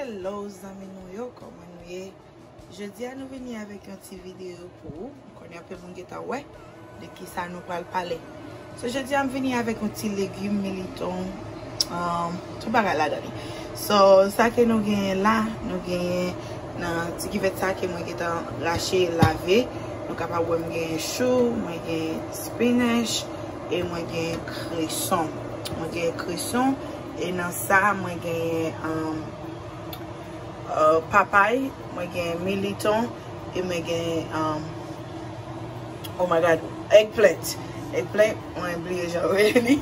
Hello zanmi nou yo kòman nou ye jodi a nou vini avèk yon ti video pou ou m konnen anpil moun gentan wè de kisa nou pral pale so jodi a m vini avèk yon ti legume militon tout bagay ladan li so sa ke nou genyen la nou genyen nan ti kivèt sa ke mwen gentan rache lave nou kapab wè m genyen chou mwen genyen Spinach e mwen gen kreson. Mwen gen kreson e nan sa mwen genyen papay, mwen gen militon e mwen gen oh my God eggplant. Eggplant mwen bliye jan yo rele li.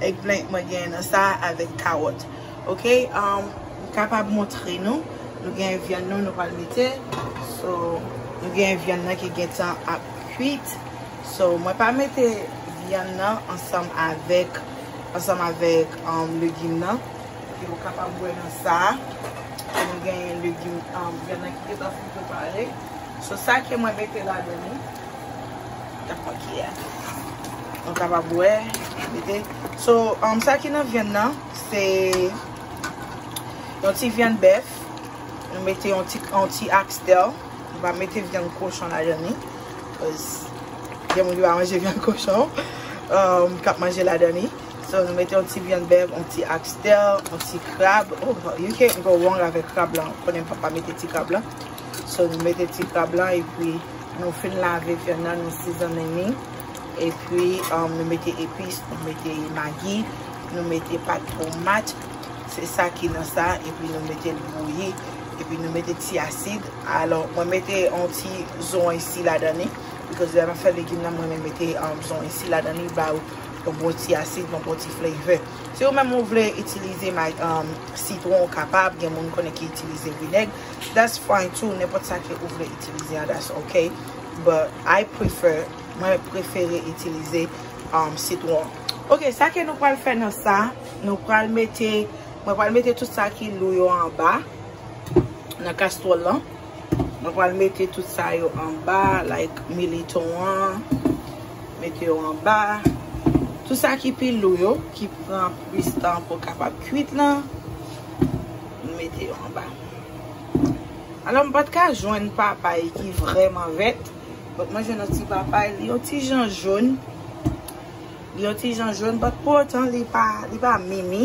Eggplant mwen genyen nan sa avèk kawòt. Ok m kapab montre nou. Nou gen vyann nou nou pral mete. So nou gen vyann nan ki gentan ap. kwit so mwen pa mete vyann nan ansanm avèk ansanm avèk legim nan e ou kapab wè nan sa ke nou genyen legim vyann nan ki gentan fin prepare so sa ke mwen mete ladan li tap mwen ki a nou kapab wè mete so sa ki nan vyann nan se yon ti vyann bèf nou mete yon ti yon ti axtel. Nou pa mete vyann kochon ladan li. Koz gen moun ki pa manje vyann kochon. Kap manje ladan li. So nou mete yon ti vyann bèf, yon ti axtel, yon ti krab. You can't go wrong avèk krab lan. Konnen papa mete ti krab lan. So nou mete ti krab lan. E pi nou fin lave vyann nan. Nou sizonnen li. E pi nou mete epis. Nou mete magi. Nou mete pat tomat. Se sa ki nan sa. E pi nou mete l bouyi. epi nou mete ti asid alò mwen mete yon ti zon isi ladan li because lè map fè legim nan mwen renmen mete zon isi ladan li ba ou yon bon ti asid yon bon ti flavor si ou menm ou vle itilize sitron ou kapab gen moun konnen ki itilize vinèg that's fine too nenpòt sa ke ou vle itilize an that's ok but I prefer mwen prefere itilize sitron ok sa ke nou pral fè nan sa nou pral mete Mwen pral mete tout sa ki lou yo anba nan kastwòl lan. Mwen pral mete tout sa yo anba like militon an. Mete yo anba. Tout sa ki pi lou yo ki pran plis tan pou kapab kuit lan. Mwen mete yo anba. Alò m pat ka jwenn papay ki vrèman vèt. Donk mwen jwenn yon ti papay. Li yon ti jan joun. Li yon ti jan jaune but pou otan li pa li pa mimi.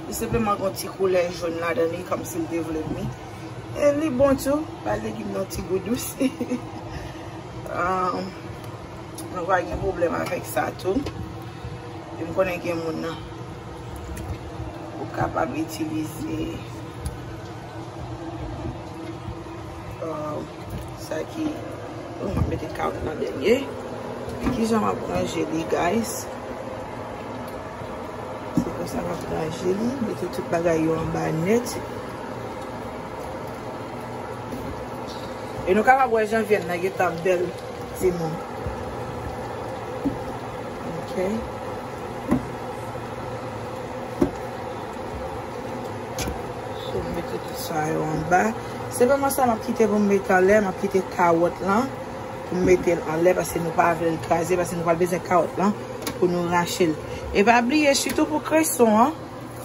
Li senpleman gen yon ti koulè jaune ladan li kòm si li te vle mi. E li bon tou. Bay legim nan yon ti gou dous. Ahh mwen pa gen pwoblèm avèk sa tou. E m konnen gen moun nan ou kapab itilize. Sa ki Mwen ap mete kawèt nan dènye Kijan map ranje li guys Se konsa map ranje li Mete tout bagay yo anba nèt E nou kapab wè jan vyann nan gentan bèl timoun Ok Sou mete tout Sa yo anba. Senpleman sa map kite pou m met anlè, map kite kawòt lan pou m mete l anlè paske nou pa vle l kraze paske nou pral bezwen kawòt lan pou nou rache l. E pa bliye sitou pou kreson an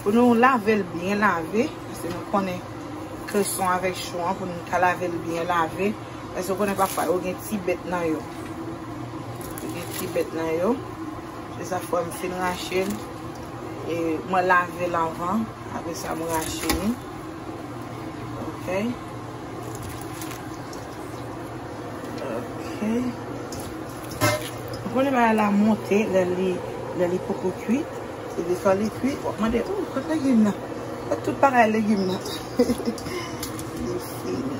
pou nou lave l byen lave paske nou konnen kreson avèk chou an pou nou ta lave l byen lave paske ou konnen pafwa yo gen ti bèt nan yo. Yo gen ti bèt nan yo. Se sa fwa m fin rache l. E mwen lave l avan. Apre sa mwen rache li. Ok. Ok. Mwen konnen ba la monte lè li lè li poko kuit. E de fwa li kuit. Wap mande ou kote legim nan. Kote tout bagay legim nan. Li fini.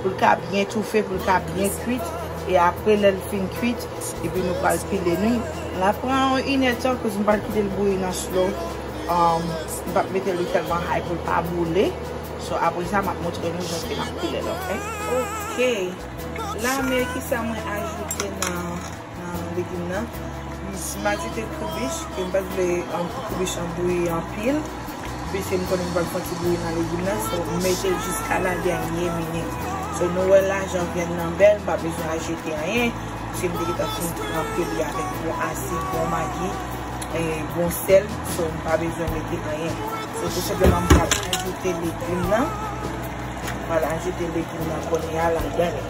Pou l ka byen toufe, pou l ka byen kwit e apre lè l fin kwit epi nou pral pile nou l ap pran yon inè tan koz m pral kite l bouyi nan slow m pap mete li tèlman hay pou l pa boule so apre sa m ap montre nou jan ke n ap pile l ok. Ok la me kisa mwen ajoute nan. Legim nan m ajoute kribich e m pa t vle pou kribich lan bouyi anpil piske m konnen m pral fè yon ti bouyi nan legim nan so m mete l jiska la dènye minit so nou wè la jan vyann nan bèl m pa bezwen ajoute anyen piske m te gentan fin tranpe li avèk bon asid bon magi bon sèl so m pa bezwen mete anyen se tou senpleman m pral ajoute legim nan m pral ajoute legim nan kounye a ladan l.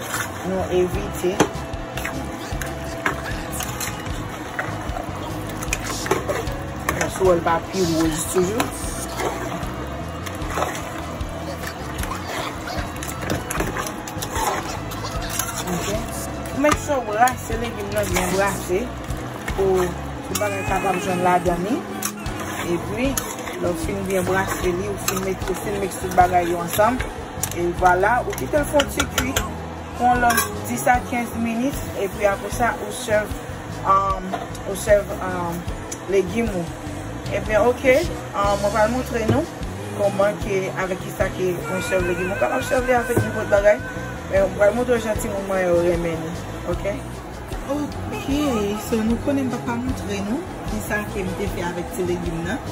Nou evite. Yon swol pa pi wouj toujou. Ok. Ou met sou brase legim nan byen brase. Pou bagay sa pa bjwen la dani. E pi. Lò fin byen brase li ou fin met tout bagay yo ansanm. E vwala ou kite l fon ti kuit pou yon lòt 10 a 15 minit epi apre sa ou sève ou sève legim ou. Ebyen ok mwen pral montre nou kòman ke avèk kisa ke mwen sève legim ou kapab sève li avèk nenpòt bagay men mwen pral montre w jan timoun mwen yo renmen li ok. Ok so nou konnen m pa t ka montre nou kisa ke m te fè avèk ti legim nan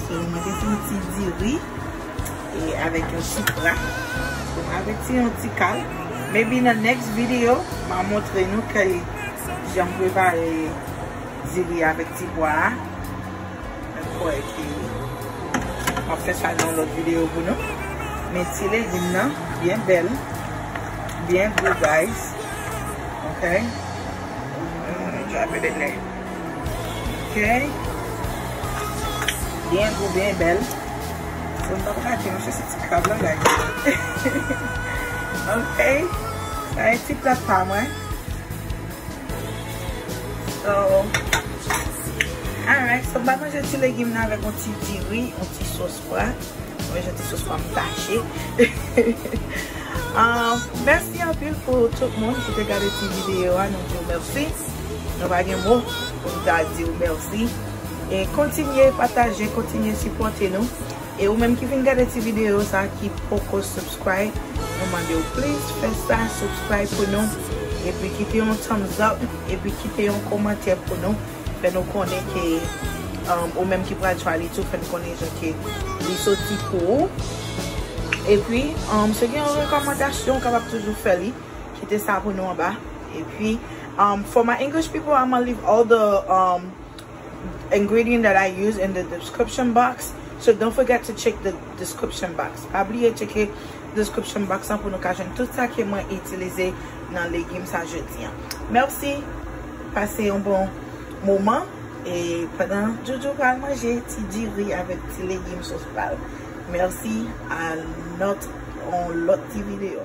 so mwen te pran ti diri. e avèk yon chipra bon avèk ti yon ti kal maybe nan next video ma montre nou ke janm prepare diri avèk ti pwa a mwen kwè ki map fè sa nan lòt video pou nou men ti legim nan byen bèl byen gou guys ok mwen jwa mwen de lè Kèy. Byen gou, byen bèl. Bon m pap rate yon chèche ti krab lan guys. Ok. Sa e ti plat pa mwen. So. Alright. So m pa manje ti legim nan avèk yon ti diri, yon ti sos. Wè, mwen mwen janti sou fòm tache. Mèsi anpil pou tout moun ki te gade ti videyo a, nou diw mèsi. Nou pa gen mou pou nou ta diw mèsi. E kontinye pataje, kontinye sipote nou. E ou menm ki vin gade ti videyo sa ki poko subscribe, nou mande ou plis fè sa, subscribe pou nou. E pi kite yon thumbs up, e pi kite yon komantè pou nou. fè nou konnen ke ou menm ki pral chwali tou fè nou konnen jan ke li soti pou ou epi si gen yon rekòmandasyon ou kapab toujou fè li kite sa pou nou anba epi for my English people I'ma leave all the um ingredient that I use in the description box so don't forget to check the description box pa bliye tcheke description box lan pou nou ka jwenn tout sa ke mwen itilize nan legim sa jodi an. Merci! Pase yon bon moman e pandan Joujou pral manje ti diri avèk ti legim sos pa l. Merci! A not on lot ti video.